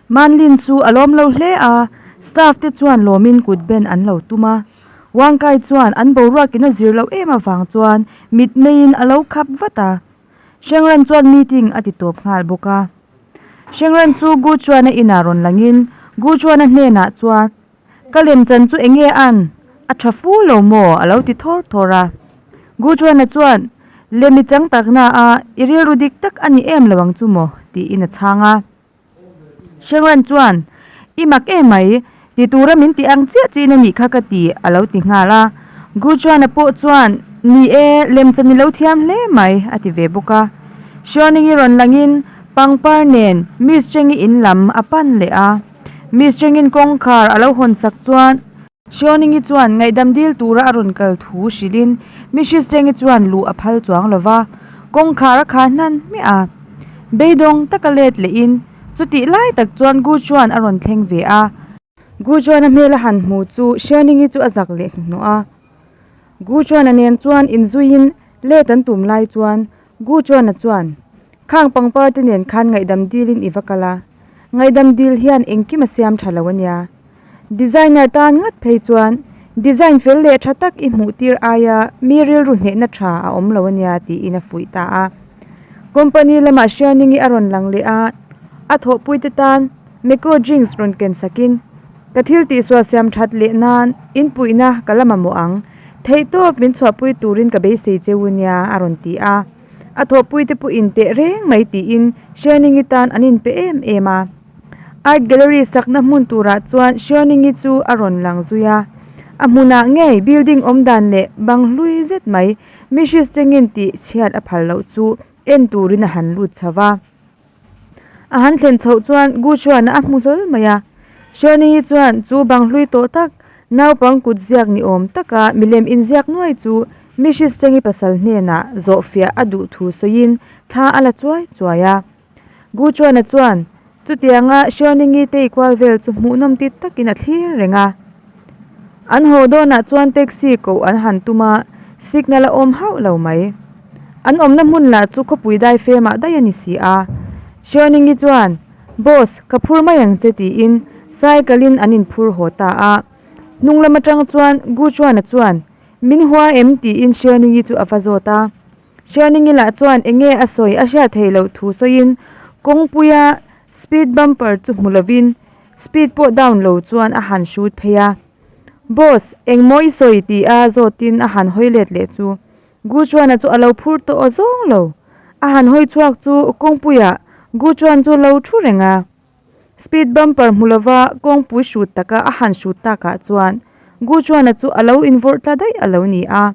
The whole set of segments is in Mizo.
Manlin chu a lawm lo hle a, staff te chuan lawmin kut ben an lo tum a. Wangkai chuan an boruak in a zir loh em avang chuan mit meiin a lo khap vat a. Hrengran chuan meeting a ti tawp nghal bawk a. Hrengran chu Gu Chuana inah rawn langin Gu Chuana hnenah chuan. Ka lem chan chu eng nge an a tha fu lo maw? a lo ti thawr thawr a. Gujuana chuan, Lem i chang tak na a, i rilru dik tak a ni em lo ang chu maw? tiin a chhang a. Shengran chuan, I mak e mai, ti tura min ti ang chiah chiahin a ni kha ka ti, a lo ti nghal a. Gujuana pawh chuan, Ni e, lem chan i lo thiam hle mai, a ti ve bawk a. Shioning i rawn langin pangpar nen Miss Cheng-i in lam a pan leh a. Miss Chengin kawngkhar a lo hawn sak chuan Hriawningyi chuan ngaihdam dil tura a rawn kal thu hrilhin Mrs Chengyi chuan luh a phal chuang lo va, kawngkhar a kha hnan hmiah a. Beidawng taka let leh in chutih lai tak chuan Guchuan a rawn thleng ve a. Guchuan a hmel a han hmu chu Hriawningyi chu a zak leh hnuhnawh a. Guchuan a nen chuan in zuiin let an tum lai chuan Gu Chuana chuan, Khang pangpar te nen khan ngaihdam dilin i va kal a, ngaihdam dil hian engkim a siam tha lo a nia. Designer tan ngat phei chuan design fel leh tha tak i hmuh tir aia mi rilru hnehna tha a awm lo a nia tiin a fuih ta a. Company lamah hrianingi a rawn lang leh a, a thawhpuite tan, Meko Jinx rawn ken sakin, Ka thil tihsuah siam that leh nan inpuihna ka la mamawh ang. Theih tawp min chhuahpui turin ka beisei che u nia a rawn ti a. A thawhpuite pawh inteh reng mai tiin Hriainengi tan an inpe em em a. Art Gallery sakna hmun turah chuan Hriainengi chu a rawn lang zui a. A hmunah ngei building awmdan leh bang hlui zet mai Mrs Chengin tih chhiat a phal loh chu en turin a han lut chho va. A han thlen chhoh chuan Gu Shuan a hmu hlawl mai a. Shirley hi chuan chu bang hlui tawh tak, naupang kut ziak ni awm taka milem inziak nuai chu Mrs. Cheng-i pasal hnenah zawhfiah a duh thu sawiin thla a la chuai chuai a. Gu Shuan-a chuan chutianga Shirley-i teikual vel chu hmuhnawm tit takin a thlir reng a. An haw dawnah chuan taxi koh an han tum a, signal a awm hauh lo mai. An awmna hmun lah chu khawpui dai femah dai a ni si a. Hriawninggi chuan, Boss, ka phur mai ang che tiin cycle in an inphur haw ta a. Hnung lam atang chuan Guchuana chuan, Min hua em? tiin Hriawninggi chu a va zawt a. Hriawninggi lah chuan enge a sawi a hriat theih loh thu sawiin kawngpuia Speed bumper chu hmu lovin speed pawh down lo chuan a han hrut phei a. Boss, engmaw i sawi ti a zawtin a han hawi let leh chu. Guchuana chu a lo phur tawh aw zawng lo. A han hawi chhuak chu kawngpuia Guchuan chu lo thu reng a. Speed bumper hmu lova kawngpui hrut taka a han hrut takah chuan Guchuana chu a lo invawirt ta daih a lo ni a.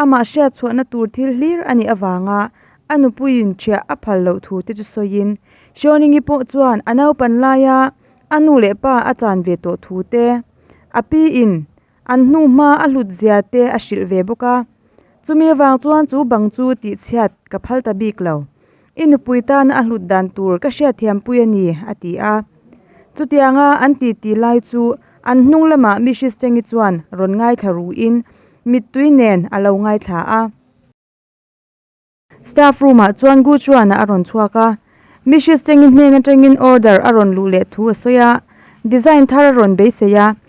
Amah hriatchhuahna tur thil hlir a nih avanga a nupuiin ṭhiah a phal loh thu te chu sawiin, Hriawningii pawh chuan a naupan laia a nu leh pa a chan ve tawh thu te, a piin an hnu hma a hlut zia te a hrilh ve bawk a. Chumi avang chuan chu bang chu tihchhiat ka phal ta bik lo. I nupui tana a hlut dan tur ka hriatthiampui a ni, a ti a. Chutianga an titi lai chu an hnung lamah mi Hristengi chuan rawn ngaithla ruhin mittui nen a lo ngaithla a. Staff room ah chuan Guchuana a rawn chhuak a, mi Hristengi hnen atangin order a rawn luh leh thu a sawi a, design thar a rawn beisei a.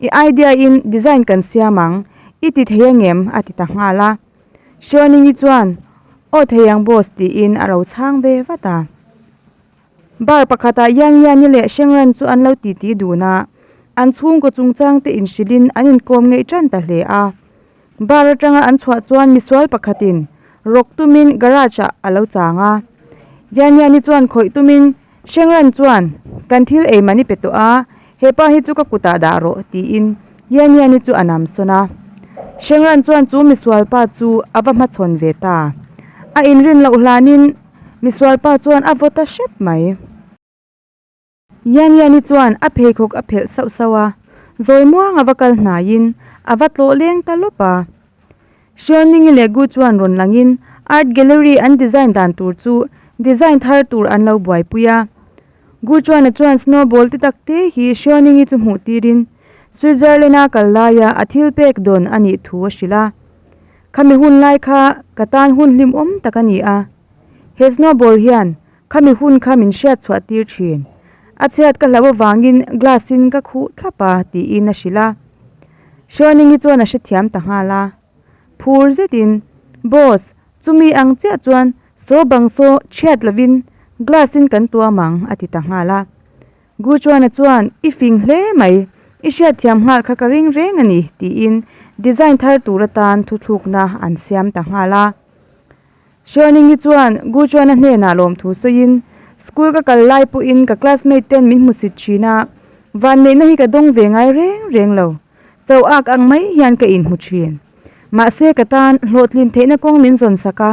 I idea in design kan siam ang, i ti thei angem? a ti ta nghal a. Xuaningyi chuan, Aw thei ang boss tiin a ro chhang ve vat a. Bar pakhatah Yangyani leh Shengran chu an lo titi dun a, an chhungkaw chungchangte inhrilhin an inkawm ngei ṭan ta hle a. Bar atanga an chhuah chuan misual pakhatin rawk tumin garage ah a lo chang a. Yaniani chuan khawih tumin Hrengran chuan, Kan thil ei mahni pe tawh a, hepa hi chu ka kutah dah rawh, tiin Yaniani chu a nam sawn a. Hrengran chuan chu misual pa chu a va hmachhawn ve ta. A inrin loh hlanin misual pa chuan a vaw ta hrep mai. Yaniyani chuan a pheikhawk a phelh sauh sauh a, zawimuang a va kal hnaiin a va tlawh leng ta lawp a. Hrialningi leh Gu chuan rawn langin Art Gallery an design dan tur chu design thar tur an lo buaipui a. Gu chuana chuan snowball ti tak te hi Hrialningi chu hmuh tirin Switzerland-a kal laia a thil pek dawn a nih thu a hrilh a, Khami hun lai kha ka tan hun hlim awm tak a ni a, he snowball hian khami hun kha min hriat chhuah tir thin a chhiat ka hlo avangin glass in ka khuh thlap a tiin a hrilh a Hrianingi chuan a hrethiam ta nghal a phur zet in Boss chumi ang chiah chuan saw bang saw hriat lovin glass in kan tuam ang a ti ta nghal a Guchuana chuan i fing hle mai i hriat thiam nghal kha ka reng reng a ni tiin design thar tur atan thuthlukna an siam ta nghal a. Hruaningi chuan Guchuana hnenah lawmthu sawiin, School ka kal lai pawhin ka classmate ten min hmu sit thin a, vanneihna hi ka dawng ve ngai reng reng lo. Cho ak ang mai hian ka inhmu thin. Mahse ka tan hlawhtlin theihna kawng min zawn sak a,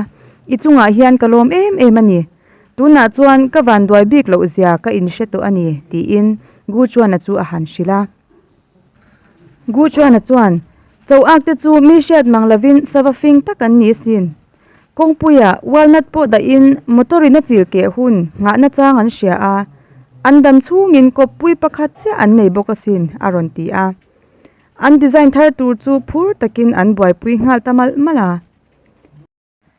i chungah hian ka lawm em em a ni. Tunah chuan ka vanduai bik loh zia ka inhre tawh a ni, tiin Guchuana chu a han hrilh a. Gu Chuana chuan, Cho Aak te chu mi hriat mang lovin sava fing tak an ni asin. Kawngpuia walnut pawh dahin motor in a chil keh hun nghahna chang an hria a, an dam chhungin kawppui pakhat chiah an nei bawk asin, a rawn ti a. An design thar tur chu phur takin an buaipui nghal ta malh malh a.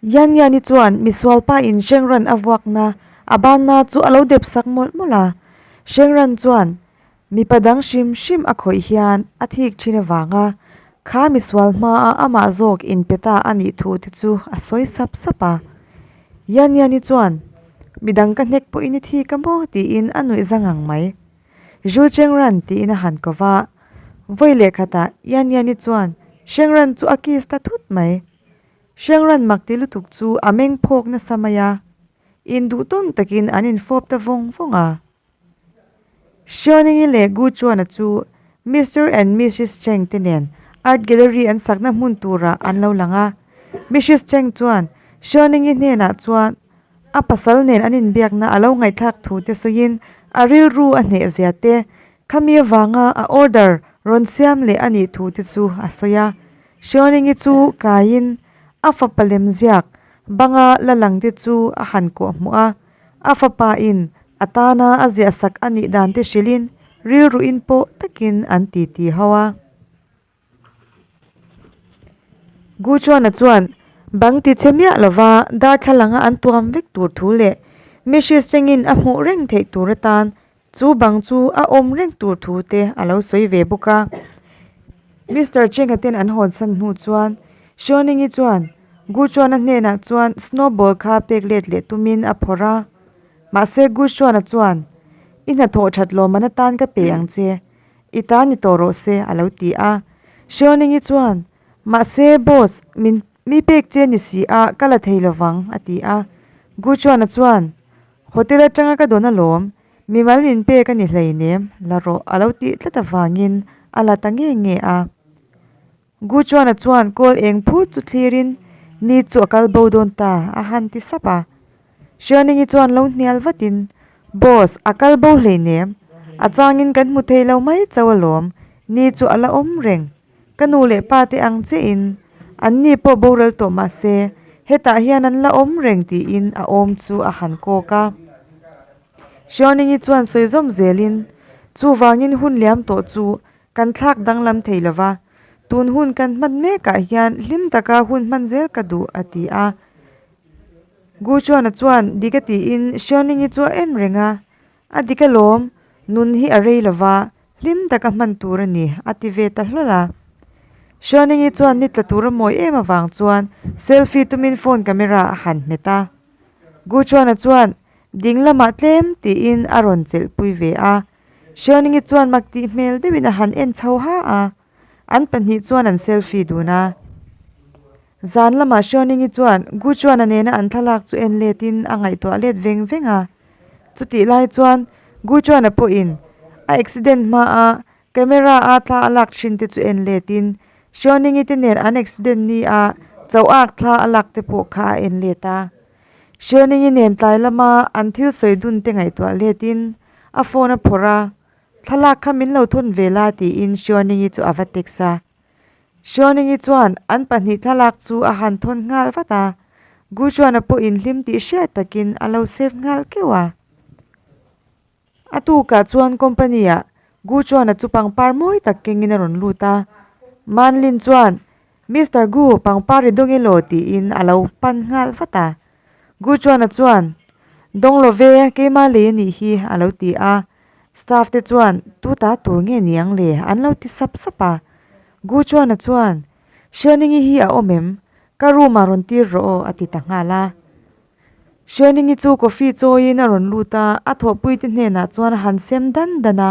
Yan Yani chuan Misualpa in Shengran a vuakna a banna chu a lo dep sak mawlh mawlh a. Shengran chuan mipa dang hrim hrim a khawih hian a thik thin avanga kha Misual hmaa amah zawk in pe ta a nih thu te chu a sawi sap sap a. Yan Yani chuan Midang ka hnek pawhin i thik a maw tiin a nuih zang ang mai. Zhuchengran tiin a han ko va. Vawi leh khatah Yan Yani chuan Shengran chu a kiss ta thut mai. Hreng Ranmak ti lutuk chu a meng phawk nasa mai a, in duh tawn takin an in fawp ta vawng vawng a. Hriawnengi leh Guchuana chu Mister and Missis Cheng te nen Art Gallery an sakna hmun tura an lo lang a, Missis Cheng chuan Hriawnengi hnenah chuan a pasal nen an in biakna a lo ngaihthlak thu te sawiin a rilru a hnehzia te, khami avanga a order rawn siam leh a nih thu te chu a sawi a. Hriawningii chu kaiin a fapa lem ziak banga la lang te chu a han kuah hmu a, a fapa in a tana a ziahsak a nih dan te hrilhin rilru in pawh takin an titi ho a. Guchuana chuan bang ti che miah lova darthlalang a an tuam vek tur thu leh mihristrengin a hmuh reng theih tur atan Chu bang chu a awm reng tur thu te a lo sawi ve bawk a. Mister Cheng-a ten an hawn san hnu chuan Hruaining-i chuan Guchuana hnenah chuan snowball kha pek let leh tumin a phawrh a. Mahse Guchuana chuan, I hnathawh that lawmman atan ka pe ang che, i ta ni tawh rawh se, a lo ti a. Hruaining-i chuan, Mahse boss, min mi pek che ni si a, ka la thei lo vang, a ti a. Guchuana chuan, Hotel atanga ka dawn alawm, mimal min pek a ni hleinem la rawh a lo tih tlat avangin a la ta nge nge a. Guchuana chuan kawl eng phut chu thlirin, Ni chu a kal bo dawn ta, a han ti sap a. Hrianingi chuan lo hnial vatin, Boss, a kal bo hleinem, a changin kan hmu thei lo mai chauh alawm, Ni chu a la awm reng. Ka nu leh pa te ang che in an ni pawh boral tawh mah se hetah hian an la awm reng tiin a awm chu a han kawk a. Hriawningyi chuan sawi zawm zel in, Chuvangin hun liam tawh chu kan thlak danglam thei lo va, tun hun kan hman mek ah hian hlim tak a hun hman zel ka duh a ti a. Guchuana chuan dik a tiin Hriawningyi chu a en reng a. A dik alawm, nun hi a rei lova, hlim tak a hman tur a ni, a ti ve ta hlawlh a. Hruaningi chuan ni tla tur a mawi em avang chuan selfie tumin phone camera a han hmet a. Guchuana chuan ding lamah tlem tiin a rawn chelhpui ve a. Hruaningi chuan mak tih hmel deuhin a han en chho ha a. An pahnih chuan an selfie dun a. Zan lamah Hriaunengi chuan Guchuana nena an thlalak chu en letin a ngaihtuah let veng veng a. Chutih lai chuan Guchuana pawhin a accident hmaa camera a thla a lak thin te chu en letin Hriaunengi te nen an accident ni a chauhak thla a lak te pawh kha a en let a. Hriaunengi nen tlai lama an thil sawi dun te ngaihtuah letin a phone a phawrh a. Thlalak kha min lo thun ve la tiin Hriawningyi chu a va text a. Hriawningyi chuan an pahnih thlalak chu a han thawn nghal vat a, Guchuana pawhin hlim tih hriat takin a lo save nghal keuh a. A tukah chuan company ah Guchuana chu pangpar mawi tak kengin a rawn lut a. Manlin chuan, Mister Gu, pangpar ri dawng ilo tiin a lo pan nghal vat a. Gu Chuana chuan, Dawng lo ve, keimah lei a nih hi, a lo ti a. Staff te chuan, Tu ta tur nge ni ang le? An lo ti sap sap a. Gu Chuana chuan, Hrianingi hi a awm em? Ka room ah rawn tir rawh aw, a ti ta nghal a. Hrianingi chu coffee chawiin a rawn lut a, a thawhpuite hnenah chuan a han sem dan dan a.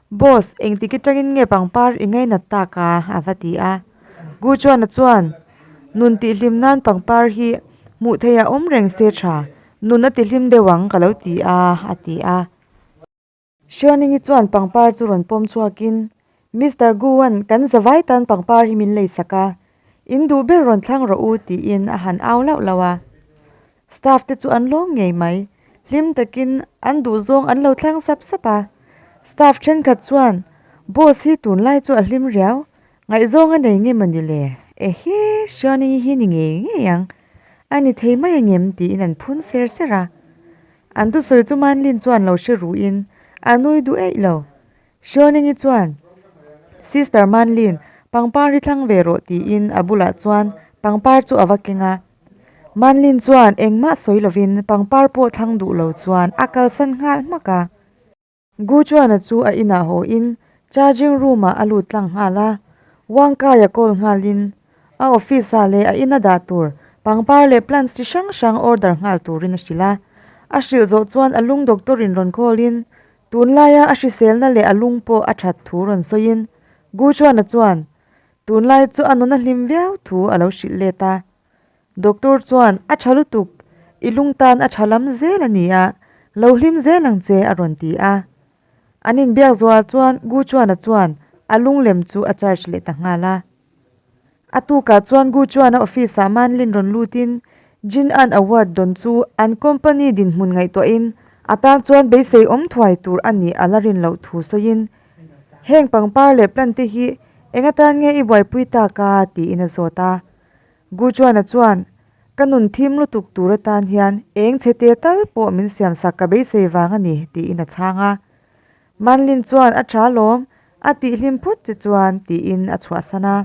Boss, engtik i tangin nge pangpar i ngainat tak a? a va ti a. Gu Chuana chuan, Nun tih hlim nan pangpar hi hmuh theih a awm reng se tha, nun a tihlim deuh ang ka lo ti a, a ti a. Sherning-i chuan pangpar chu rawn pawm chhuakin, Mister Gu-a'n kan za vai tan pangpar hi min lei sak a, in duh ber rawn thlang rawh u, tiin a han au lauh lauh a. Staff te chu an lawm ngei mai. Hlim takin an duh zawng an lo tlang sap sap a. Staff thenkhat chuan, Boss hi tunlai chu a hlim riau, ngaihzawng a nei ngem a ni le? Ehe, Xiaoning hi ni ngei ngei ang, a ni thei mai angem? tiin an phun ser ser a. An thusawi chu Manlin chuan lo hre ruhin, A nui duh eih lo. Hruaningi chuan, Sister Manlin, pangpar hi thlang ve rawh tiin a bulah chuan pangpar chu a va keng a. Manlin chuan engmah sawi lovin pangpar pawh thlang duh lo chuan a kalsan nghal hmak a. Guchuana chu a inah hawiin charging room-ah a lut tlang nghal a, Wangkaia call nghalin a office-ah leh a ina dah tur pangpar leh plants chi hrang hrang order nghal turin a hrilh a. A hrilh zawh chuan a lung doctor-in rawn call-in Tunlaia a hriselna leh a lung pawh a that thu rawn sawiin, Gu Chuana chuan tunlai chu a nuna hlim viau thu a lo hrilh let a. Doctor chuan, A tha lutuk, i lung tan a tha lam zel a ni a, lo hlim zel ang che a rawn ti a. An inbiak zual chuan Gu Chuana chuan a lunglem chu a charge leh ta nghal a. A tukah chuan Gu Chuana office ah Manlin rawn lutin Jin An Award dawn chu an company dinhmun ngaihtuahin a tan chuan beisei awm thuai tur a nih a la rin loh thu sawiin, Heng pangpar leh plant te hi enga tan nge i buaipui tak a? tiin a zawt a. Gu Chuana chuan, Ka nun thim lutuk tur atan hian eng chhe te tal pawh min siamsak ka beisei vang a ni, tiin a chhang a. Manlin chuan a ṭha lawm, a tih hlim phut che chuan tiin a chhuahsan a.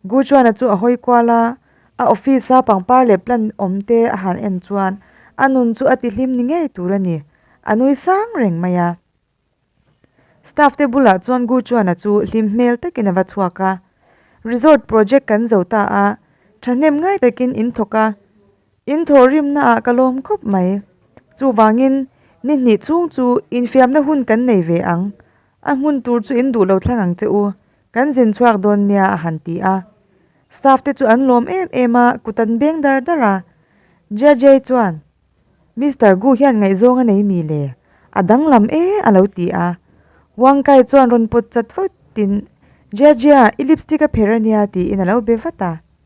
Gujuana chu a hawi kual a, a office a pangpar leh plan awm te a han en chuan a nun chu a ti hlim ni ngei tur a ni, a nui sang reng mai a. Staff te bulah chuan Gujuana chu hlim hmel takin a va chhuak a. Resort project kan zo ta a, ṭhahnem ngai takin in thawk a. In thawhrimna ah ka lawm khawp mai. Chuvangin, ni hnih chhung chu infiamna hun kan nei ve ang. A hmun tur chu in duhlo thlang ang che u, kan zin chhuak dawn nia a han ti a. Staff te chu an lawm em em a, kut an beng dar dar a. JJ chuan, Mister Gu hian ngaihzawng a nei mi le, a danglam e a lo ti a. Wang Kai chuan rawn pawt chat vat in, JJ-a i lipstick a pher a nia tiin a lo be vat a.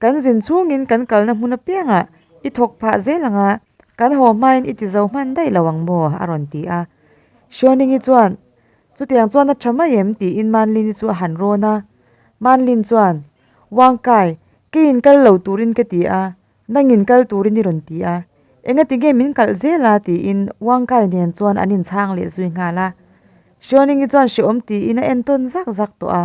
Kan zin chungin kan kalna hmun apiangah i thawk phah zel ang a, kan haw hmain i tizo hman daih lo ang maw? a rawn ti a. Hriawningyi chuan, Chutiang chuan a tha mai em? tiin Manlini chu a han rawn a. Manlin chuan, Wangkai, ka inkal lo turin ka ti a, nang inkal turin i rawn ti a, engati nge min kalh zel a? tiin Wangkai nen chuan an inchhang leh zui nghal a. Hriawningyi chuan hreawm tiin a en tawn zak zak tawh a.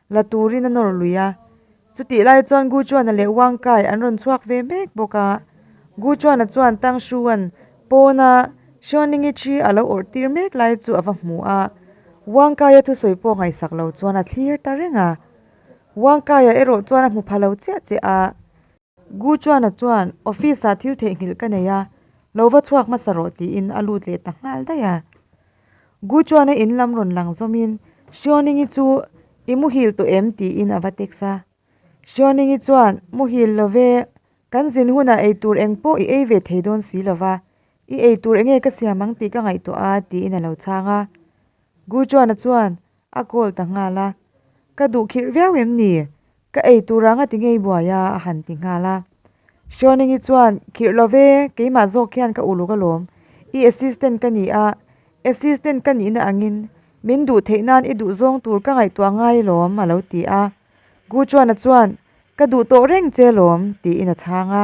la turin a nawr lui a, chutih lai chuan Gu Chuana leh Wang Kai an rawn chhuak ve mek bawk a, Gu Chuana chuan Tang Hruan pawna Hruanlingi thi a lo awrh tir mek lai chu a va hmu a, Wang Kaia thusawi pawh ngaihsak lo chuan a thlir ta reng a, Wang Kaia erawh chuan a hmu pha lo chiah chiah a. Gu Chuana chuan office ah thil theihnghilh ka nei a, lo va chhuak hmasa rawh tiin a lut leh ta nghal daih a. Gu Chuana in lam rawn lang zawmin Hriawningi chu i muhil tawh em tiin a va text a. Hriawningi chuan muhil love, kan zin hunah ei tur eng pawh i ei ve thei dawn si lova, i ei tur enge ka siam ang tih ka ngaihtuah a tiin a lo chhang a. Gu Chuana chuan A call ta nghal a, Ka duh khirh viau em ni? Ka ei tur anga ti ngei buai a, a han ti nghal a. Shawningi chuan, Khirh lo ve, keimah zawk hian ka uluk alawm. I assistant ka ni a, assistant ka nihna angin min duh theih nan i duh zawng tur ka ngaihtuah ngai alawm, a lo ti a. Guchuana chuan, Ka duh tawh reng che alawm, tiin a chhang a.